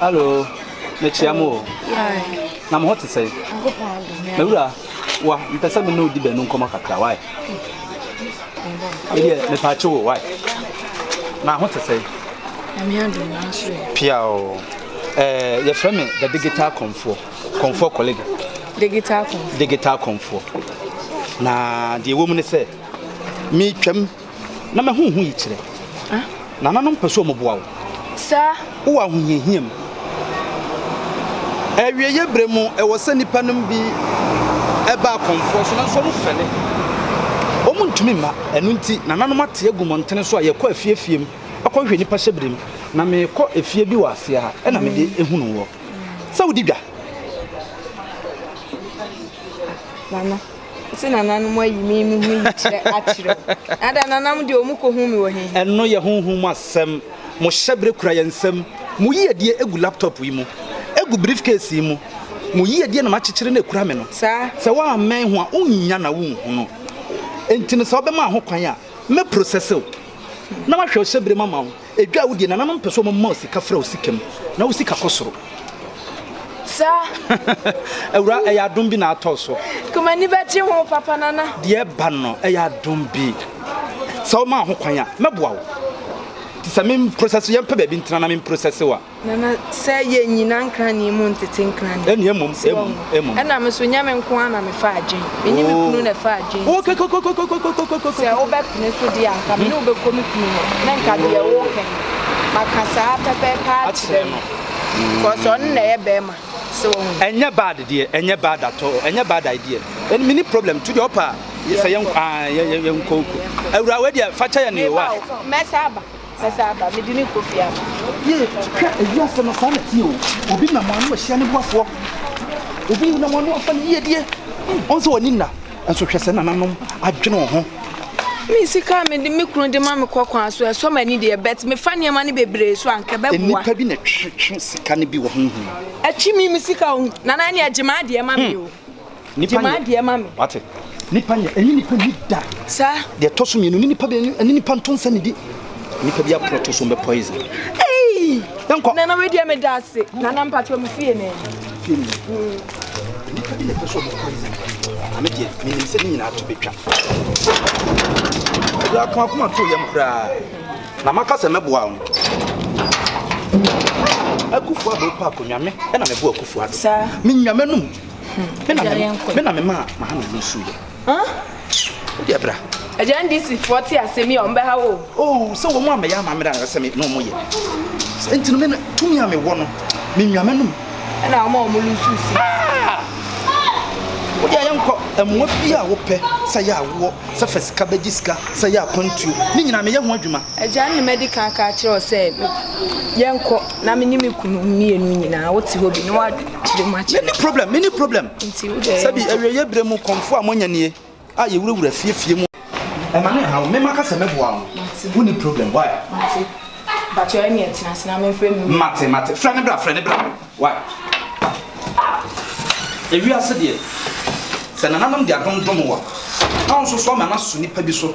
Hallo, mekyia mo o. Na mo ho te sɛn? Mewura, wa, mepɛ sɛ me ne wo di bɛnu nkɔmɔ kakra, why? Medeɛ, mepakye wo, why? Na ho te sɛn? Pia o. Eh, yɛfrɛ me the digital kɔmfoɔ, kɔmfoɔ kɔlege. Digital kɔmfoɔ? Digital kɔmfoɔ. Na deɛ ɛwɔ mu ne sɛ, metwam. Na mahu ho yikyerɛ. Nananom pɛ sɛ wɔboa wo. Wowɔ ahohiahia mu. Awieeɛ berɛ mu, ɛwɔ sɛ nnipa nom bi ba akɔmfoɔ so, nanso wɔfɛle. Wɔntumi mma. Ɛno nti, nananom ate agu mmɔntene so a yɛkɔ afie afie mu kɔhwehwɛ nnipa hyɛberɛ mu. Na mekɔ efie bi wɔ aseɛ ha na mede hunu woɔ sɛ wodi dwa. Ɔse nananom ayi me me ho yi kyerɛ akyerɛ wo. Ada nanam deɛ ɔmu kɔhu me wɔ he? Ɛno yɛ honhom mu asɛm. Mo hyɛberɛ kura yɛn nsam. Mo yiedie gu laptop yi mu. Egu briefcase yi mu. Mo yiedie na makyekyere na ekura me no. Saa. Sɛ woammɛn ho a, wonnya na wonhunu. Enti no sɛ wobɛmaa ho kwan a, mɛprosɛse wo. Na mahwɛ wo hyɛberɛ mu ama wo. Edwa wo deɛ nananom pɛ sɛ wɔn ma wo sika fra wo sika mu na wo sika kɔ soro saa. Awura ɛyɛ adom bi na atɔ so. Kuma ani bɛgye ho papa nana. Deɛ ɛba no ɛyɛ adom bi. Sɛ wo maa ho kwan a mɛboa wo. Ti sɛ me process yɛn pɛ baabi ntena na me process wa. Nana, sɛ yɛnnyina nkrane mu ntete nkrane. Ɛne mmom, mmom, mmom. Ɛna me so nyɛ me nko ara na mefa adwen. Me ne me oh. kunu na ɛfa adwen. Oh, kokokokokokokokokoko. Sɛ wobɛpene so deɛ anka me ne wobɛkɔ me kunu hɔ. Na nka deɛ woka yi, maka saa pɛpɛɛpɛ akyerɛ no. Kɔsɛ ɔno na ɛyɛ bɛrima. So wɔn. Ɛnyɛ bad deɛ, ɛnyɛ bad at all, ɛnyɛ bad idea. Ɛne me ne problem to deɛ ɔpa sɛ yɛn ah, yɛn yɛn koko. Awura wei deɛ fa kyɛ yɛn ne wa. Mɛsa aba. Mɛsan aba, mede no rekɔ fie ama. Yie, hwɛ ewiase no, saa na ɛteɛ o. Obi nam ano ahyia ne boafoɔ, obi nam ano afa ne yiedie. Ɔn sɛ w'ani nna, nso hwɛ sɛ nananom adwene wo ho. Me sika a mede me kunu de ma me kɔ kwan so, ɛsɔ m'ani deɛ, but mefa nneɛma no bebree so a, anka ɛbɛboa. Nnipa bi na ɛtwetwe sika no bi wɔ honhom mu. Ɛtwe me me sika o, Nana ɛnneɛ gye m'adeɛ ma me o. Hmm. Gye m'adeɛ ma me. Wate? Nipa nyɛ, ɛne nipa ni da. Sa. Deɛ ɛtɔ so mmienu, ne nipa bɛ, ɛne nipa nto nsa ne di. Nipa bi aporɔ to so mbɛ poison. Hey! Yɛnkɔ. Nana wei deɛ me da ase. Nana mpatrɔ me fie ne. Fie ne. Nipa bi na ɛpɛ so ɔbɛ poison. Ame deɛ, menim sɛ ne nyinaa to bɛtwa. Ɛdi ako akoma to yam koraa. Na maka sɛ mɛboa wɔn. Akufu abɔ pa akonnwa me, ɛna mɛboa akufu ano. Sa. Me nyame nom. hmm, me na memaa mahama no suiɛ wode ɛbra agya ndisifoɔ te asɛm yi a ɔmbɛha wo oh, sɛ wɔn amɛyɛ amammerɛ a sɛ me na ɔmɔyɛ nti no tumi a mewɔ no menwa m'anom ɛna ɔma ɔmo lusu si ah! wode ayɛ nkɔ mmoa bi a wopɛ sɛ yɛ awoɔ sɛ fa sika bɛgye sika sɛ yɛ akwantuo ne nyinaa meyɛ ho adwuma agya ne madi kan ka kyerɛ wo sɛ yɛnkɔ na menye me kunu mmienu nyinaa wote hɔ bi na woadwene kyerɛ mu akyerɛ. Many problem, many problem. Nti wo deɛ. Sɛbi awieɛ berɛ mu kɔnfo a moanya nie a yɛwurawura fiefie mu. Ɛma ne ha wo mema ka sɛ mɛboa wo no woni problem why. Mate bakyɛ ɛne ɛtena ase na memfrɛ me wura. Mate mate frɛ ne bra frɛ ne bra why. Ewiase deɛ sɛ nananom de adom dom wa na wo nso so ama no aso nipa bi so.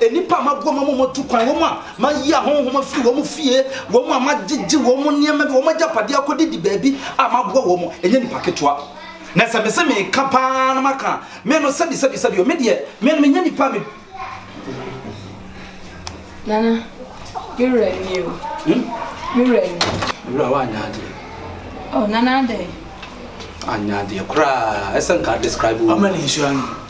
Nnipa a maboa ma wɔatu kwan, wɔn a mayi ahonhom afiri wɔn fie, wɔn a magyegye wɔn nneɛma ne wɔn agyapadeɛ akɔdi di baabi a maboa wɔn, ɛnyɛ nnipa ketewa. Na sɛ mese meka pa ara na maka a, me no, sɛbi, sɛbi, sɛbi o, me deɛ, me no, menyɛ nnipa a me. Nana, me werɛ anni o. Hmm? Me werɛ anni. Me werɛ a woanyɛ adeɛ. Oh, Nana adɛn? Anyɛ adeɛ koraa, ɛsɛ nka describe wo. Ɔma ne nhyira no.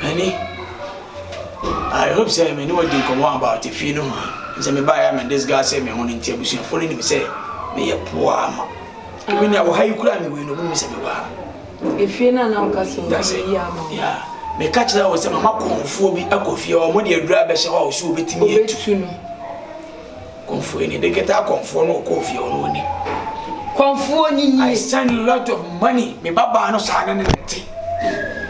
Honey, I hope sɛ me ne wo adi nkɔmmɔ about efie no ho a sɛ mebaeɛ a me disgase me ho no nti abusuafoɔ no nim sɛ meyɛ poa ama ebi nea wɔ ha yi koraa me wei no ɔmo nim sɛ mewɔ ha. Efie no a na woka sɛ ɔmo yɛ yi ama wo. Yeah. Meka kyerɛ wo sɛ mama kɔnfoɔ bi akɔ fie hɔ, ɔmo de aduru abɛhyɛ hɔ a ɔsi obetumi atu. Obetumi. Kɔmfoɔ ni. Deketa kɔmfoɔ no ɔkɔɔ fie hɔ no ɔni. Kɔmfoɔ ni ni. I send lot of money. Me ba baa no saa ne ne ne te.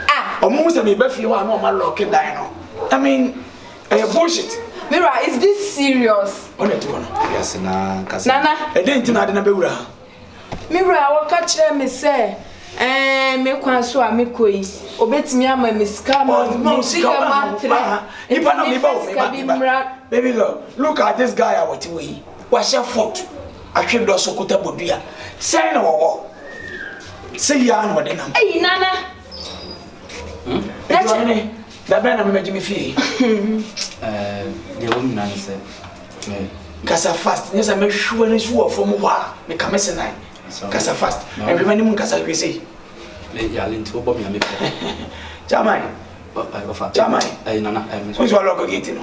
Ah. Ɔmo hu sɛ me ba fie hɔ a na ɔma lɔɔke dan no. I mean, ɛyɛ bullshit. Mira, is this serious? Ɔna ti hɔ no. Yɛse na nkasa. Nana. Ɛdɛn ti na ade na bɛwura ha? Me wura a ɔka kyerɛɛ me sɛ, Ɛɛ, me kwan so a mekɔ yi, obetumi ama me sika ama Ɔ- me no, sika sika ma ma ntrɛ. ma ha. Nti Nipa na meba mefa o, meba, sika bi meba. mmra. Baby girl, look at this guy a ɔte hɔ yi. Wahyɛ foot, ahwe dɔ so kuta bodua. Sɛn na ɔwɔ? Sɛ yi ara na ɔde nam. Ei, Nana! Nti ɔne me. Da bɛn na mɛmɛgye me fie? Deɛ wɔn nyinaa ne sɛ kasa fast nyɛ sɛ mɛhwɛ ne so wɔ fam hɔ a meka me senan kasa fast ɛhwɛ m'anim nkasa hwɛ sei yale nti wobɔ me a mepɛ gyaman gyaman wosɛ walɔkɔ gate no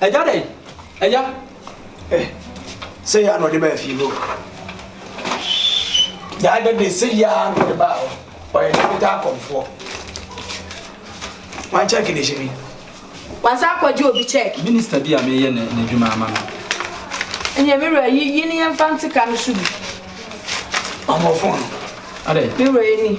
Agya dɛn? Agya! Eh, sɛ yɛ a na ɔde baa fie hɔ. Daa da de sɛ yɛ a na ɔde baa hɔ. Ɔyɛ ne fitaa akɔmfoɔ. Wan check de hyɛ mi. Wansa akɔgye obi check. Minister bi a meyɛ ne n'adwuma ama no. Ɛnyɛ me wura yi yi ne yɛn fa nteka no so bi. Ɔmo fon no. Adɛn? Me wura yi ni.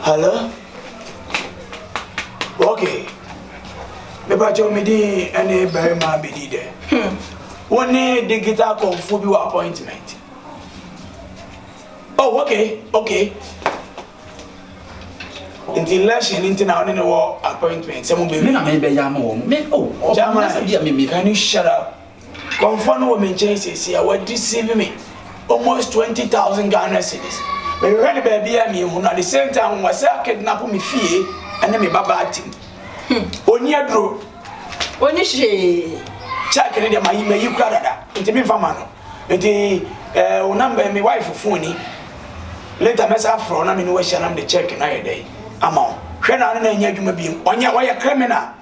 Hello? Okay. Mepakyɛw me din ɛne barima bedi dɛ. Hmm. Wo ne digital kɔmfo bi wɔ appointment. Oh, okay, okay. Nti election nti na wo ne ne wɔ appointment sɛ mo bɛ. Me na mebɛyɛ ama wɔn. Me oh. Chairman, can you shut up? Kɔmfoɔ no wɔ me nkyɛn seesei a wa deceive me almost twenty thousand Ghana cedis mehwehwɛ no baabiaa menhu no at the same time wɔsɛ a kidnap me fie ɛne me ba baa tim ɔni aduro ɔni hwee check ne deɛ mayi mayi kura dada nti memfa ma no nti ɛɛ wo number me wife phone ni later mɛsa afrɛ na me ne wahyia na mede check no ayɛ dɛn ama wo hwɛ na ne na ɛnyɛ adwuma biem ɔnyɛ ɔyɛ criminal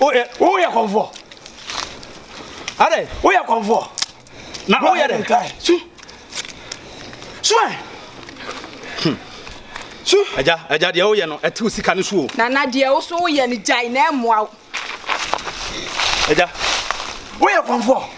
woyɛ woyɛ kɔnfoɔ adɛ woyɛ kɔnfoɔ na woyɛ dɛ su su ɛ hmm. su agya agya deɛ woyɛ no ɛtew sika no so o nana deɛ wo so woyɛ no gyae na ɛmmoa wo agya woyɛ kɔnfoɔ